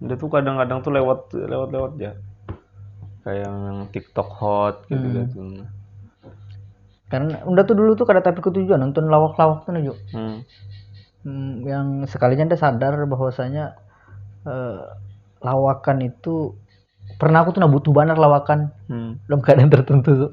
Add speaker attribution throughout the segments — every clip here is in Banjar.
Speaker 1: dia tuh kadang-kadang tuh lewat lewat lewat ya kayak yang TikTok hot gitu hmm. gitu
Speaker 2: kan udah tuh dulu tuh kada tapi ketujuan nonton lawak-lawak tuh naju hmm. hmm. yang sekalinya dia sadar bahwasanya eh, lawakan itu pernah aku tuh nah butuh banget lawakan hmm. dalam keadaan tertentu tuh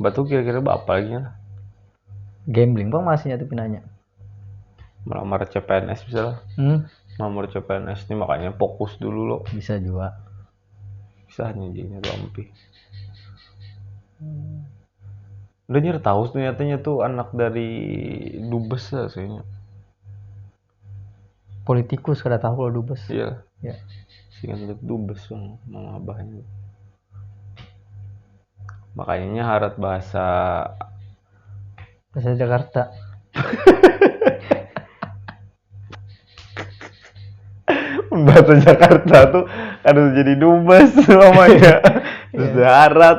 Speaker 2: Batu
Speaker 1: kira-kira berapa lagi lah? Gambling
Speaker 2: bang masihnya tuh pinanya.
Speaker 1: Melamar CPNS bisa lah. Hmm? Melamar CPNS ini makanya fokus dulu loh. Bisa juga.
Speaker 2: Bisa
Speaker 1: hanya jadinya lampi. Hmm. Udah nyari tahu ternyata tuh anak dari Dubes lah sih.
Speaker 2: Politikus kada tahu lah dubes. Iya. Ya. Sing handak
Speaker 1: dubes yang mama abah ini. Makanya harat bahasa bahasa
Speaker 2: Jakarta.
Speaker 1: bahasa Jakarta tuh kada jadi dubes namanya. Iya. Terus harat.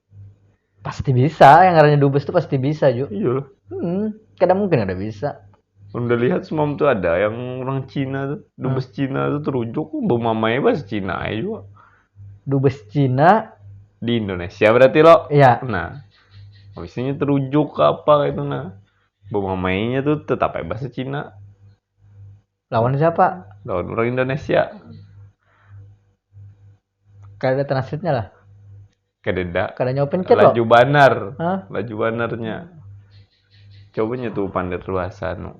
Speaker 2: Pasti bisa, yang ngarannya dubes tuh pasti bisa Ju. Iya loh. Hmm,
Speaker 1: kada mungkin
Speaker 2: ada bisa. Udah lihat
Speaker 1: semam tuh ada yang orang Cina tuh, dubes hmm. Cina tuh terujuk, bumamai bahasa Cina aja juga. Dubes
Speaker 2: Cina di Indonesia
Speaker 1: berarti lo? Iya. Nah, habisnya terujuk ke apa itu nah. Bumamainya tuh tetap bahasa Cina.
Speaker 2: Lawan siapa? Lawan orang Indonesia. Kada ada transitnya lah. Kadeda.
Speaker 1: Kada nyawa pencet loh. Laju
Speaker 2: banar. Hah?
Speaker 1: Laju banarnya. Coba nyetu pander lu asa nu.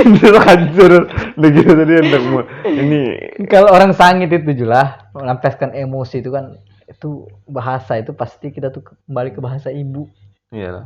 Speaker 1: Hancur, hancur. Udah gitu tadi hendak mau- ini Kalau orang
Speaker 2: sangit itu julah melampiaskan emosi itu kan itu bahasa itu pasti kita tuh kembali ke bahasa ibu. ya lah.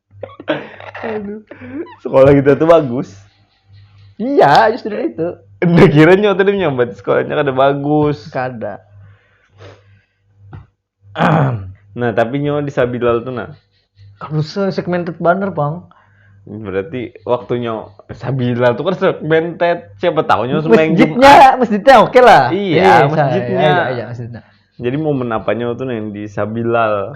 Speaker 1: sekolah kita tuh bagus iya
Speaker 2: justru itu udah kira nyawa
Speaker 1: tadi nyambat sekolahnya kada bagus kada nah tapi nyawa di Sabilal tuh nah kalau
Speaker 2: segmented banner bang berarti
Speaker 1: waktunya Sabilal tuh kan segmented siapa tahu nyawa masjidnya masjidnya oke okay
Speaker 2: lah iya, iya masjidnya iya,
Speaker 1: iya, iya, masjidnya
Speaker 2: jadi momen
Speaker 1: apanya tuh yang di Sabilal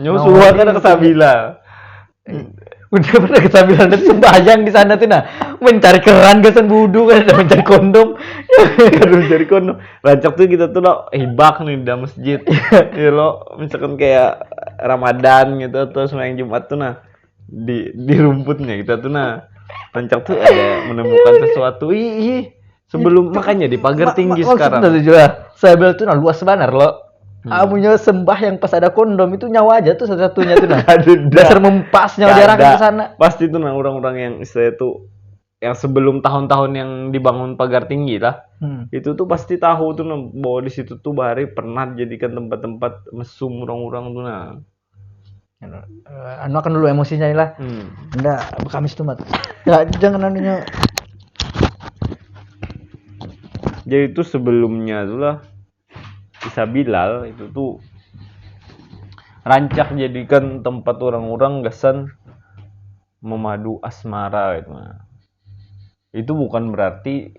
Speaker 1: Nyawa nah, suha kada kesabila. Eh.
Speaker 2: Udah pernah kesabila nanti sembahyang di sana tuh nah mencari keran gasan budu kan ada mencari kondom ada mencari
Speaker 1: kondom rancak tuh kita tuh lo hibak nih di masjid ya lo misalkan kayak Ramadan gitu atau sembahyang Jumat tuh nah di di rumputnya kita tuh nah rancak tuh ada menemukan sesuatu ih Sebelum makanya di pagar tinggi oh, sekarang. Maksudnya juga sebel
Speaker 2: tuh nah luas banar loh. Hmm. Amunya sembah yang pas ada kondom itu nyawa aja tuh satu-satunya tuh nah. Dasar mempasnya jarak ke sana. Pasti tuh nah orang-orang
Speaker 1: yang istilah itu yang sebelum tahun-tahun yang dibangun pagar tinggi lah hmm. itu tuh pasti tahu tuh nah, bahwa di situ tuh bahari pernah dijadikan tempat-tempat mesum orang-orang tuh nah anu
Speaker 2: akan dulu emosinya lah hmm. ndak kamis tuh mat ya, jangan anunya
Speaker 1: jadi itu sebelumnya tuh lah bisa Bilal itu tuh rancak jadikan tempat orang-orang gasan memadu asmara gitu itu bukan berarti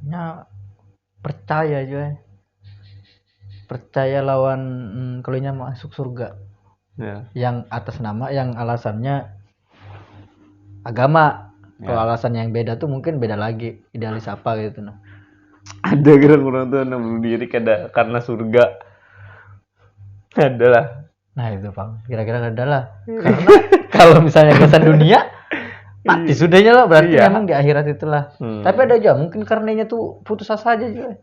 Speaker 2: nya percaya jua ai percaya lawan kalo inya masuk surga yang
Speaker 1: atas nama
Speaker 2: yang alasannya agama kalo alasan yang beda tu mungkin beda lagi idealis apa ketu nah ada
Speaker 1: gerang urang tu nang bunuh diri kada karna surga adalah. Nah itu pang,
Speaker 2: kira-kira ada lah. Karena kalau misalnya kesan dunia, mati sudahnya lah. Berarti Iya. memang di akhirat itulah. Hmm. Tapi ada aja, mungkin karenanya tuh putus asa aja juga.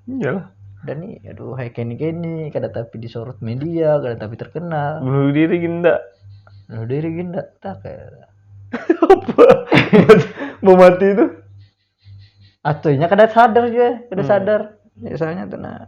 Speaker 2: Iyalah.
Speaker 1: Dan nih, aduh,
Speaker 2: hai kini kini, kada tapi disorot media, kada tapi terkenal. Bunuh diri ginda.
Speaker 1: Bunuh diri ginda,
Speaker 2: tak kayak. Apa?
Speaker 1: Mau mati itu?
Speaker 2: Atunya kada sadar juga, kada sadar. Ya, soalnya tuh nah,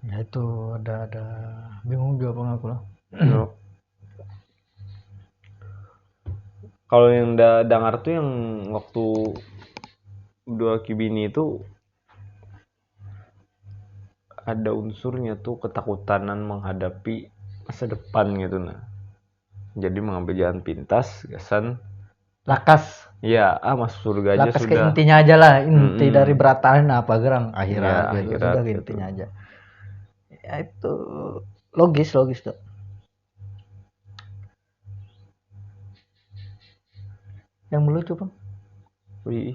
Speaker 2: ya itu ada ada bingung juga bang aku lah no.
Speaker 1: kalau yang da dengar tuh yang waktu dua kibini itu ada unsurnya tuh ketakutanan menghadapi masa depan gitu nah jadi mengambil jalan pintas gasan lakas
Speaker 2: ya ah masuk
Speaker 1: surga aja lakas sudah ke intinya aja lah
Speaker 2: inti hmm. dari berataan apa gerang akhirat, ya, gitu. akhirat sudah gitu. intinya
Speaker 1: aja
Speaker 2: ya itu logis logis tuh yang melucu bang wih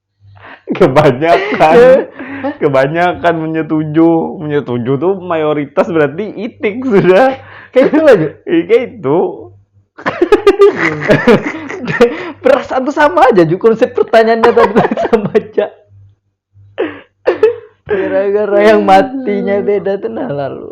Speaker 1: kebanyakan kebanyakan menyetuju menyetuju tuh mayoritas berarti itik sudah kayak itu aja
Speaker 2: iya, kayak itu perasaan tuh sama aja juga konsep pertanyaannya tadi sama aja gara-gara yang matinya beda tuh nah lalu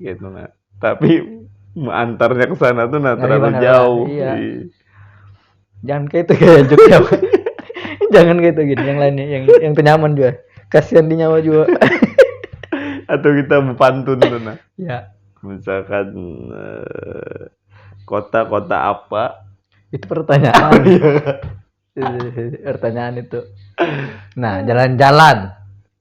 Speaker 1: gitu nah tapi mengantarnya ke sana tuh nah terlalu bener, jauh
Speaker 2: iya. iya. jangan kayak itu kayak Jogja jangan kayak itu gitu yang lainnya yang yang tenyaman juga kasihan di nyawa juga
Speaker 1: atau kita berpantun tuh nah ya
Speaker 2: misalkan
Speaker 1: eh, kota-kota uh, apa itu pertanyaan
Speaker 2: oh, iya. pertanyaan itu nah jalan-jalan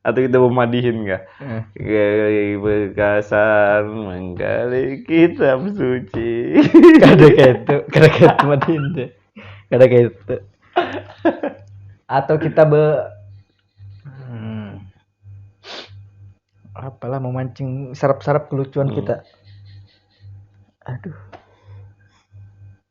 Speaker 1: atau kita mau madihin kah? Hmm. Gali bekasan menggali kitab suci. Kada
Speaker 2: gitu, kada gitu madihin deh. Kada gitu. Atau kita be hmm. apalah memancing sarap-sarap kelucuan hmm. kita. Aduh.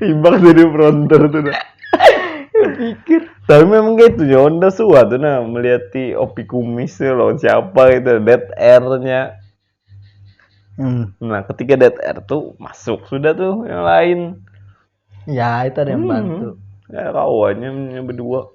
Speaker 1: Ibak jadi fronter tuh dah. Pikir.
Speaker 2: Tapi memang
Speaker 1: gitu ya, Honda suat tuh nah melihat di Opi Kumis tuh loh siapa itu Dead Air-nya. Hmm. Nah, ketika Dead Air tuh masuk sudah tuh yang lain. Ya,
Speaker 2: itu ada yang hmm. bantu. Ya, kawannya
Speaker 1: berdua.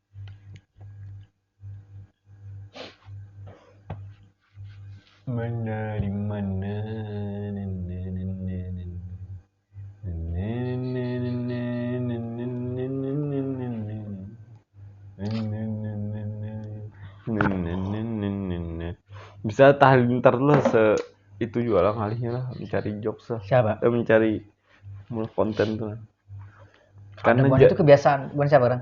Speaker 1: bisa tahlil ntar lah se itu juga lah ngalihnya lah mencari jokes lah siapa eh, mencari mul konten tuh kan
Speaker 2: ada itu kebiasaan bukan siapa orang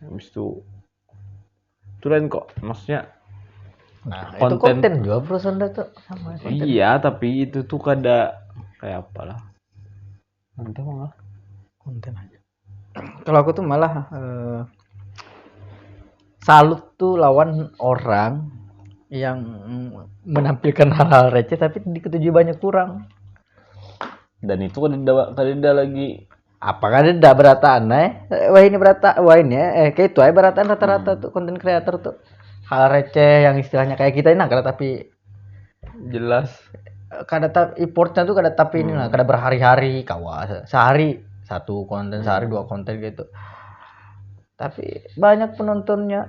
Speaker 1: habis itu itu lain kok maksudnya nah,
Speaker 2: konten, itu konten juga bro sanda tuh sama konten. iya tapi itu
Speaker 1: tuh kada kayak apa lah nanti malah konten
Speaker 2: aja kalau aku tuh malah uh, salut tuh lawan orang yang menampilkan hal-hal receh tapi diketujui banyak kurang
Speaker 1: dan itu kan tidak lagi apa kan dah
Speaker 2: berataan eh wah ini berata wah ini eh kayak itu aja berataan rata-rata tuh konten creator tuh hal receh yang istilahnya kayak kita ini nah, kada tapi jelas
Speaker 1: kada
Speaker 2: tapi effortnya tuh kada tapi ini lah kada berhari-hari kawa se- sehari satu konten sehari dua konten gitu tapi banyak penontonnya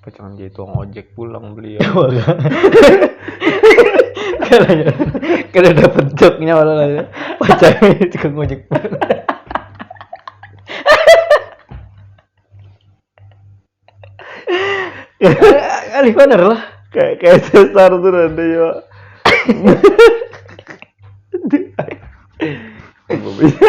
Speaker 1: Pacangan jadi tukang ojek pulang beliau.
Speaker 2: Kalanya kada dapat joknya orang aja. Pacangan jadi tukang ojek pulang. Alih bener lah.
Speaker 1: Kayak kayak sesar tuh nanti ya. Apa
Speaker 2: bisa?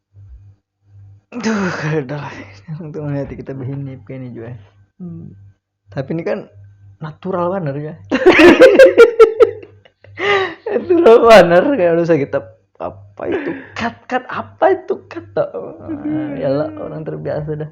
Speaker 2: Duh, kada lah. Untuk melihat kita berhinip kayak ini juga. Hmm. Tapi ini kan natural banget ya. natural banget kayak udah kita apa itu cut cut apa itu cut ya lah orang terbiasa dah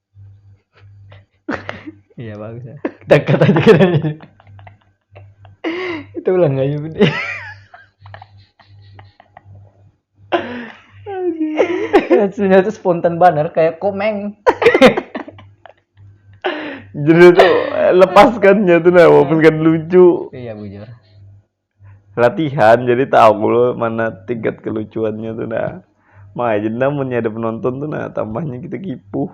Speaker 2: Iya bagus ya. Dekat aja kita ini. Itu ulang aja budi. Hasilnya tuh spontan banget kayak komeng.
Speaker 1: Jadi tuh eh, lepaskannya tuh nah walaupun kan lucu. Iya bujur. latihan jadi tahu lo mana tingkat kelucuannya tuh nah makanya jadi nah punya ada penonton tuh nah tambahnya kita kipuh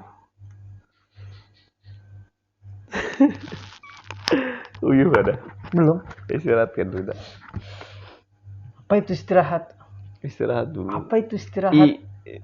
Speaker 1: uyuh ada belum
Speaker 2: istirahat kan dulu
Speaker 1: apa
Speaker 2: itu istirahat istirahat
Speaker 1: dulu apa itu istirahat I,